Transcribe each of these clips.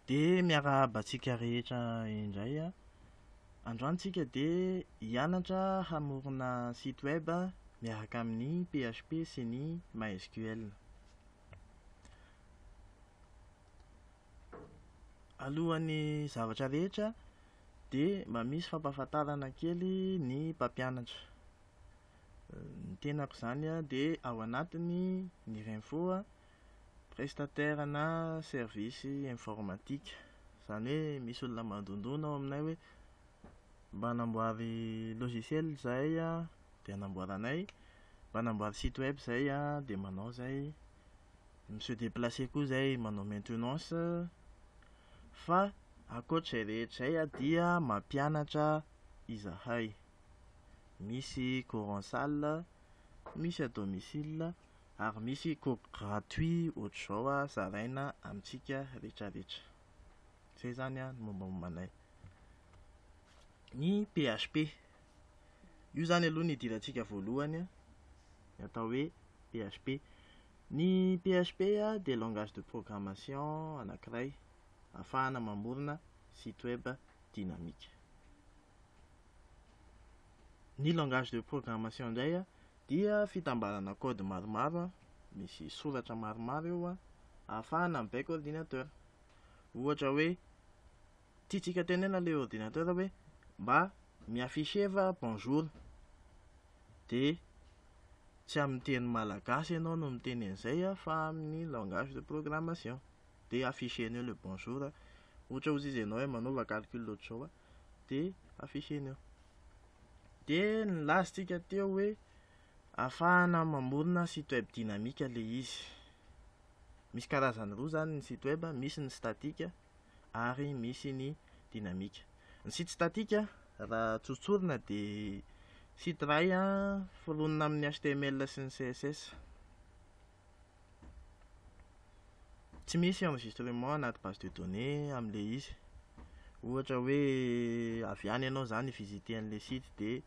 Dia miarahaba antsika rehetra indray an. Androany tsika dia hianatra hamorona site web miaraka amin'ny PHP sy ny MySQL. Alohan'ny zavatra rehetra dia mba misy fampahafantarana kely ny mpampianatra. Ny tenako izany dia ao anatiny ny Renfo prestataire na service informatique. Izany hoe misy olona mandondona ao aminay hoe mba anamboary logiciel izahay dia anamboaranay, mba anamboary site web izahay dia manao izay, mi-se déplacer koa izahay manao maintenance. Fa ankoatr'izay rehetra izay dia mampianatra izahay. Misy cours en salle, misy à domicile, ary misy cours gratuit ohatr'izao zaraina amintsika retraretra. Izay izany ny mombamomba anay. Ny PHP, io izany aloha no idirantsika voalohany, ny atao hoe PHP. Ny PHP dia langage de programmation anankiray ahafahana mamorona site web dynamique. Ny langage de programmation indray dia fitambarana code maromaro misy soratra maromaro eo ahafahana mibaiko ordinateur. Ohatra hoe tiantsika tenena ilay ordinateur hoe mba mi-afficher va bonjour dia tsy amin'ny teny malagasy ianao no miteny an'izay fa amin'ny langage de programmation dia afficher-nao ilay bonjour ohatra ozy izy ianao hoe manaova calcul ohatr'izao de afficher ny eo de nilaza tsika teo hoe afahana mamorona site web dynamique le izy misy karazany roa zany ny site web misy ny statique ary misy ny dynamique ny site statique raha tsotsorina de site iray foronina amin'ny html sy ny css Tsy misy enregistrement anaty base de données amin'ilay izy. Ohatra hoe avy any ianao izany hi-visiter an'ilay site dia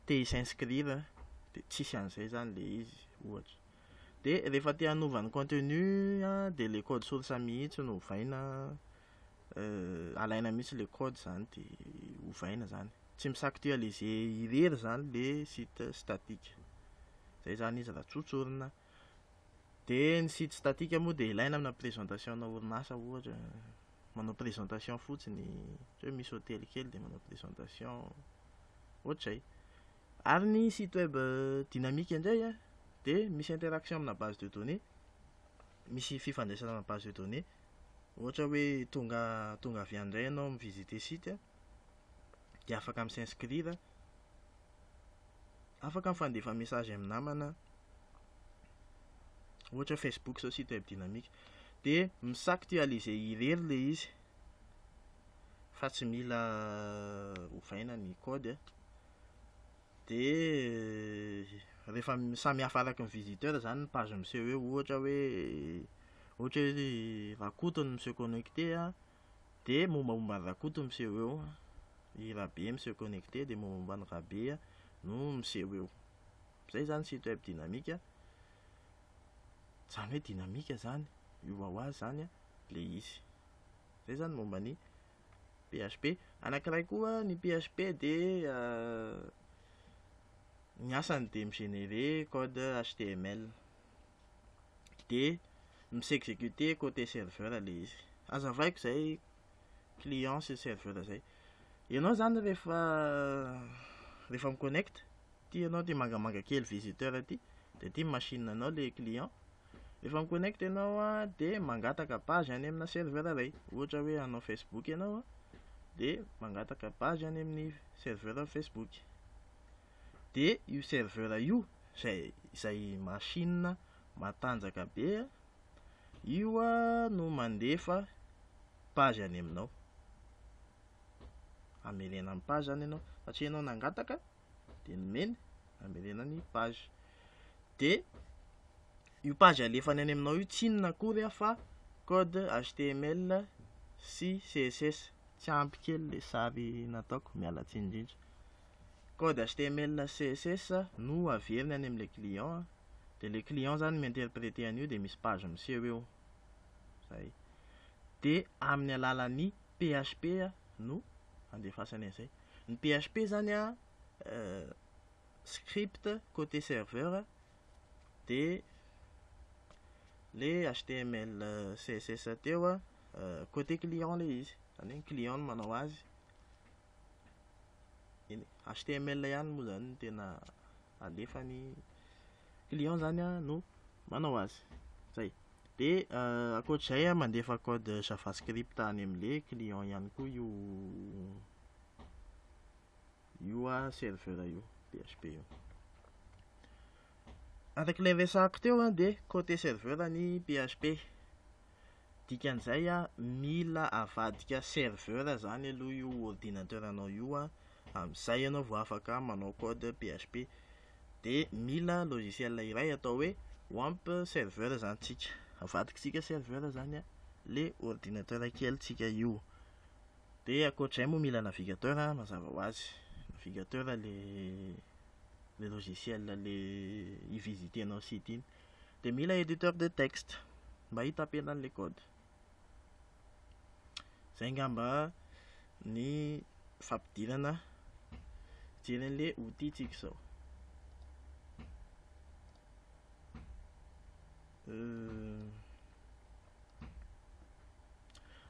te hi-s'inscrire dia tsisy an'izay izany ilay izy ohatra. Dia rehefa te hanova ny contenu an, dia ilay code source mihitsy no ovaina, alaina mihitsy ilay code izany dia ovaina izany. Tsy mi s'actualiser irery zany le site statique. Zay zany izy raha tsotsorina. Dia ny site statique moa dia ilaina amina présentation ana orinasa ohatra, manao présentation fotsiny, ohatra hoe misy hotely kely dia manao présentation, ohatr'izay. Ary ny site web dynamique indray an, dia misy interaction amina base de données, misy fifandraisana amina base de données, ohatra hoe tonga tonga avy any indray ianao mi visiter site an, dia afaka mi s'inscrire, afaka mifandefa message amin'ny namana, ohatra hoe facebook zao site web dynamique, dia mi s'actualiser irery le izy fa tsy mila ovaina ny code a, dia rehefa samy hafa araky ny visiteur zany ny page miseho eo ohatra hoe ohatra hoe rakoto no mi se connecter a. Dia mombamomba an'i Rakoto miseho eo, i Rabe miseho connecté dia mombamomba an'i Rabe no miseho eo. Izay izany site web dynamique. Izany hoe dynamique izany, io ho azy izany ilay izy. Izay izany momba ny PHP. Anankiray koa ny PHP dia ny asany dia mi-générer code HTML. de misy exécuté côté serveur le izy azavaiko izay client sy serveur izay ianao zany rehefa rehefa mi-connect ty ianao ty mangamanga kely visiteur ty de ty machine anao le client rehefa mi-connect ianao de mangataka page any amina serveur iray ohatra hoe hanao facebook ianao de mangataka page any amin'ny serveur facebook de io serveur io zay zay machine matanjaka be io no mandefa page any aminao amelena ny page zany ianao satria ianao nangataka de nomeny amelena ny page de io page alefany any aminao io tsy inona akory ah fa code html sy css tsy ampy kely le sary nataoko miala tsiny indrindra code html na css no averiny any amin'ilay client dia ilay client izany mi-interpreter an'io dia misy page miseho eo izay dia amin'ny alalan'ny php no andefasany an'izay ny php izany a euh, script côté serveur dia le html euh, css teo a euh, côté client le izy izany hoe ny client no manao azy eny e, html ihany moa zany tena alefany client zany a no manao azy zay de euh, akoatr'izay a mandefa code javascript any amle client ihany koa io io a serveur io php io arak'ilay resahako teo a de cote serveur ny php Dikan'izay an, mila avadika serveur zany aloha io ordinateur anao io an, amin'izay ianao vao afaka manao code PHP. Dia mila logiciel iray atao hoe wamp serveur zany tsika. Avadikitsika serveur zany an, le ordinateur kelintsika io. Dia ankoatr'izay moa mila navigateur an, mazava ho azy. Navigateur le le logiciel le hi-visiter-nao site iny. dia mila editeur de texte mba hitapena an'ilay code. Izay angamba ny fampidirana fijery an'ilay outil tsika izao. Euh,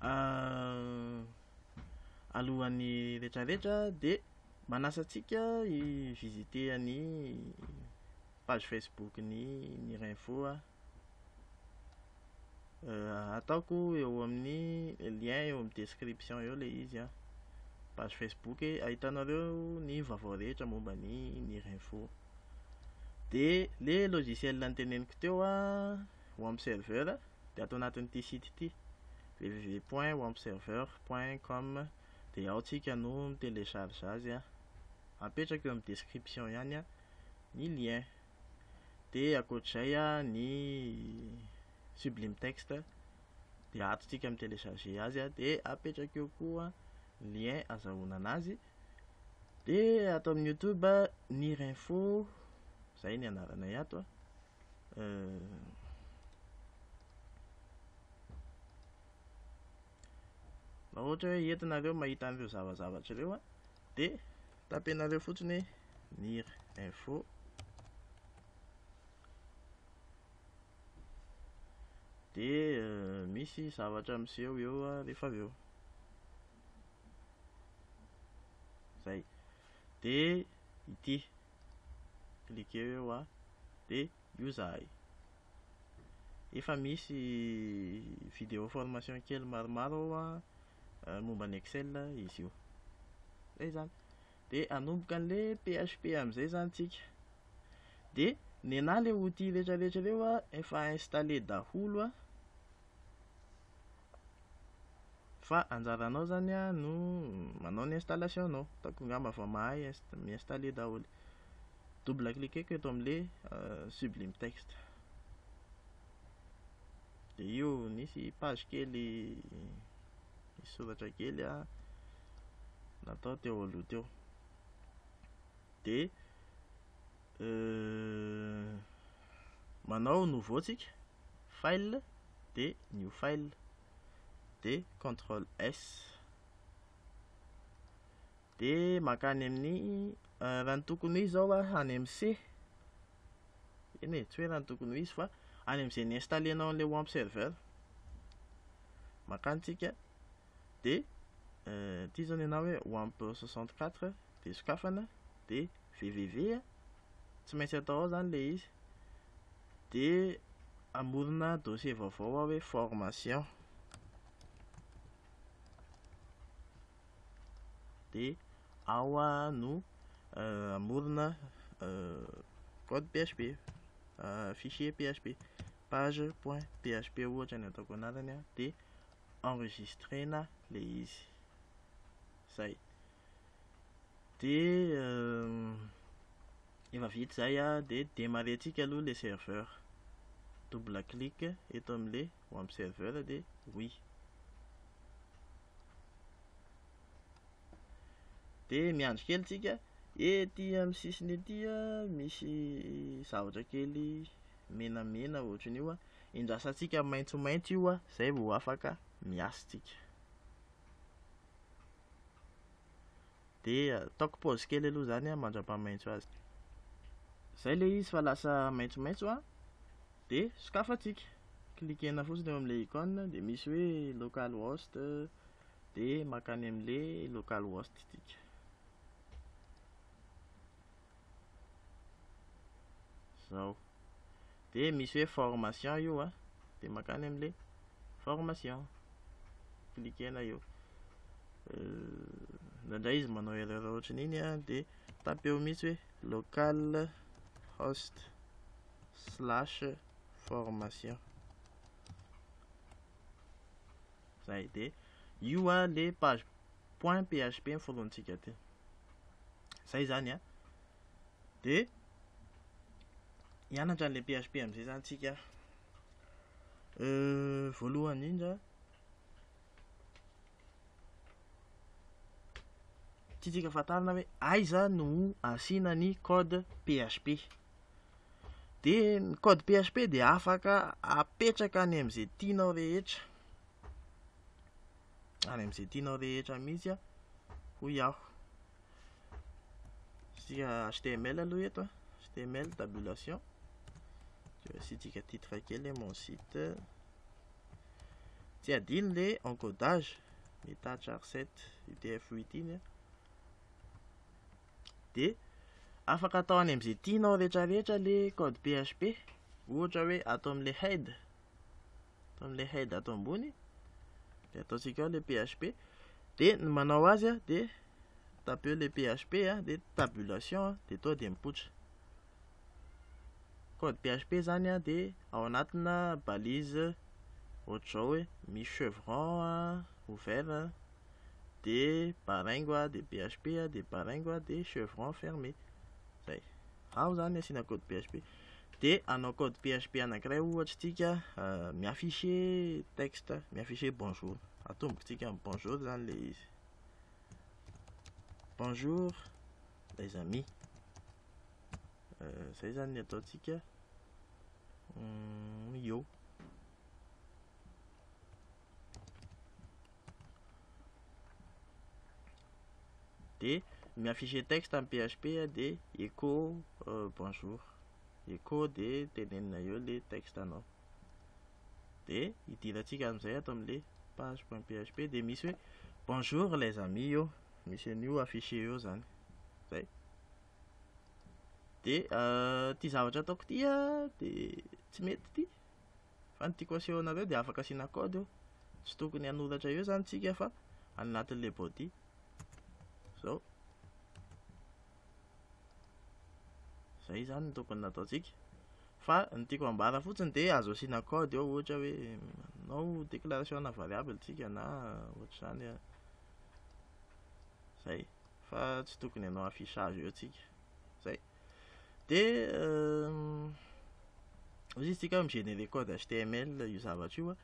euh, alohan'ny retraretra dia manasantsika i visiter an'i page Facebook ny Mirinfo a. Euh, ataoko eo amin'ny lien eo amin'ny description eo le izy a. Page Facebook e, ahitanareo ny vaovao rehetra momba ny Mirinfo. Dia le logiciel niteneniko teo a, Wamp Server, dia ato anatin'ity site ity www.wampserver.com dia ao tsika no mi-télécharge azy a. Apetrako eo amin'ny description ihany a. ny lien. Dia ankoatr'izay ny sublime text dia ato tsika mi télécharger azy dia apetraka eo koa ny lien azahoana anazy. Dia ato amin'ny youtube ny rinfo izay ny anaranay ato a. Euh, raha ohatra hoe entinareo mahita an'ireo zavazavatra ireo Dia tapenareo fotsiny hoe nir info dia euh, misy zavatra miseho eo rehefa avy eo zay dia ity cliquer eo a dia io zahay efa misy vidéo formation kely maromaro ao a momba ny Excel izy io. Zay zany. Dia hanomboka an'le PHP amin'izay zany tsika. Dia nenà le outil retraretra reo a, efa installé daholo a. Fa anjaranao zany a no manao ny installation nao. Hitako angamba vao mahay mi-installer daholo. Double cliquer ko eto amin'le sublime text. dia io nisy page kely nisy soratra kely a natao teo aloha teo dia euh, manao nouveau tsika file dia new file dia contrôle s De mankany amin'ny raha ny tokony ho izy zao a any amin'ny C eny e, tsy hoe raha ny tokony ho izy fa any amin'izay ni-installer-nao an'ilay wamp server mankany tsika de ity zao ny anao hoe wamp 64 de sokafana de www a tsy maintsy atao ao zany le izy de amorona dossier vaovao ao hoe formation dia ao no amorona code php fichier php page point php ohatra ny ataoko anarany dia enregistrena le izy zay dia efa vita zay dia demarrentsika aloha le serveur double clic eto amle Ho am serveur dia oui. Dia miandry kely tsika, ety am sisiny ety misy zavatra kely menamena ohatran io an, endrasantsika maintsomaintso io an, zay vao afaka miasa tsika. dia ataoko pause kely aloha zany mandrapamaintso azy zay le izy fa lasa maintsomaintso a Dia sokafantsika, cliquer-na fotsiny eo amin'ilay icône, dia misy hoe localhost, dia mankany amin'ilay localhost isika. Izao. Dia misy hoe formation io a, dia mankany amin'ilay formation. Cliquer-na eo. Indraindray izy manao erreur ohatran'iny a, dia tapeo mihitsy hoe localhost. slash formation zay de io a le page point php ny forontsika ty zay zany a de hianatra an'le php am'izay zany tsika euh, voalohany indra tsy tsika fatarina hoe aiza no asiana ny code php dia ny code php dia afaka apetraka any amin'izay tianao rehetra any amin'izay tianao rehetra mihitsy hoy aho isika html aloha eto html tabulation dia asiantsika titre kely mon site tsy adino le encodage ny tatra r7 utf8 iny dia afaka atao any amin'izay tianao rehetrarehetra ilay code php ohatra hoe ato amin'ilay head ato amin'ilay head ato ambony dia ataontsika ao ilay php dia ny manao azy a dia tapeo ilay php a dia tabulation a dia toa dia mipoitra code php zany a dia ao anatina balise ohatr'izao hoe misy chevron a ouvert a dia Baringo a, dia BHP a, dia Baringo a, dia Chevron fermé. Izay. Ao izany ny asiana code BHP. Dia hanao code BHP anankiray ohatra isika, euh, mi-afficher texte, mi-afficher bonjour. Atomboko tsika amin'ny bonjour izany ilay izy. Bonjour les amis. Euh, izay izany ny ataontsika. Hum, yo. de mi afficher texte am php de echo euh, bonjour echo de tenenina eo le texte anao de idirantsika amin'izay ato amle page.php de misy hoe bonjour les amis eo misy an'io afficher eo zany zay de euh, ty zavatra ataoko ty a de tsy mety ty Fa ny tiako aseho anareo dia afaka asiana code io. Tsy tokony hanoratra eo izany tsika fa any anatin'ilay body. Izao. Izay izany no tokony nataontsika. Fa ny tiako ambara fotsiny dia azo asiana code eo ohatra hoe manao déclaration na variable tsika na ohatr'izany. Eh. Izay. Fa tsy tokony hanao affichage eo tsika. Izay. Dia ozy izy tsika mi-générer code HTML io zavatra io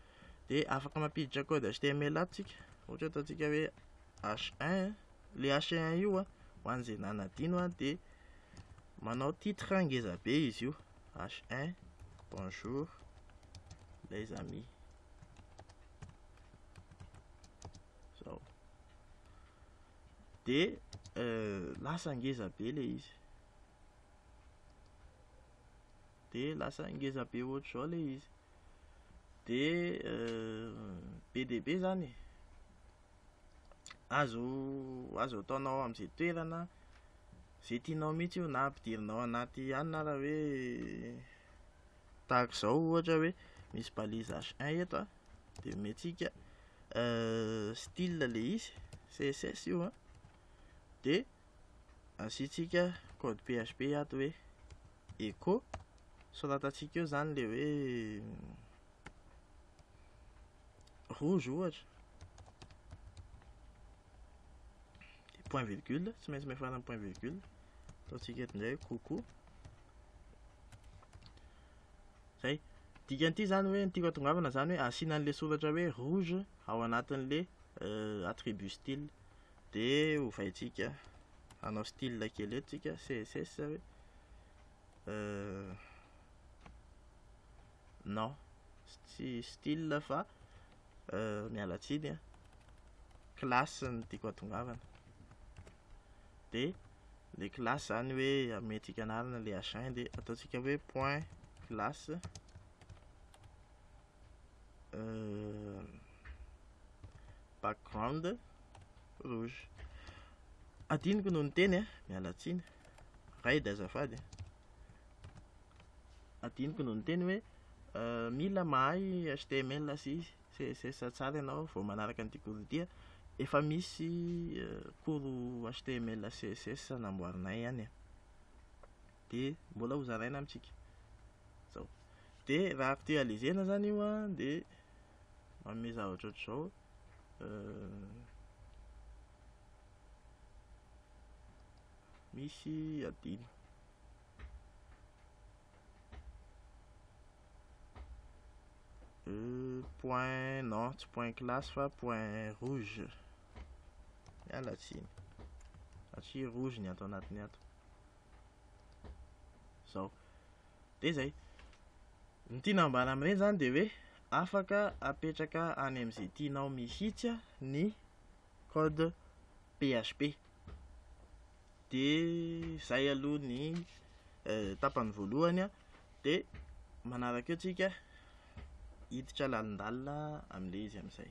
dia afaka mampiditra code HTML ato tsika ohatra ataontsika hoe H1 le H1 io a ho an'izay nanadino a dia manao titre ngeza be izy io H1 bonjour les amis zao de lasa ngeza be le izy de lasa ngeza be ohatr'izao le izy de be dia be zany azo azo ataonao am'izay toerana zay tianao mihitsy io na ampidirinao anaty hanina raha hoe Tahaka izao ohatra hoe misy balise H1 eto a, dia omentsika style ilay izy, CSS io a, dia asiantsika code PHP ato hoe echo, soratantsika eo izany ilay hoe rouge ohatra dia point virgule tsy maintsy miafara amin'ny point virgule ataontsika eto indray coucou zay dikan'ity zany hoe ny tiako atongavana zany hoe asiana an'le soratra hoe rouge ao anatin'le euh, attribut style dia hovaintsika hanao style kely eto tsika css hoe euh, non tsy style fa miala tsiny a classe no tiako atongavana de le classe zany hoe ametika anarana le h1 de ataontsika hoe point classe background rouge adinoko no niteny a miala tsiny raid azafady Adinoko no niteny hoe mila mahay html sy css tsara ianao vao manaraka an'ity cours ity. Efa misy cours html sy css namboarinay ihany e. Dia mbola ho zaraina amintsika. Izao. Dia raha actualiser-na izany io an, dia manome zavatra ohatr'izao. Misy adino. Euh, point, non, tsy point classe fa point rouge. Miala tsiny. Satria rouge ny ato anatiny ato. Zao. Dia izay. Ny tiana ambara amin'ireny izany dia hoe afaka apetraka any amin'izay tianao mihitsy ny code PHP. dia izay aloha ny tapany voalohany an, dia manaraka eo tsika hiditra lalindalina amin'ilay izy amin'izay.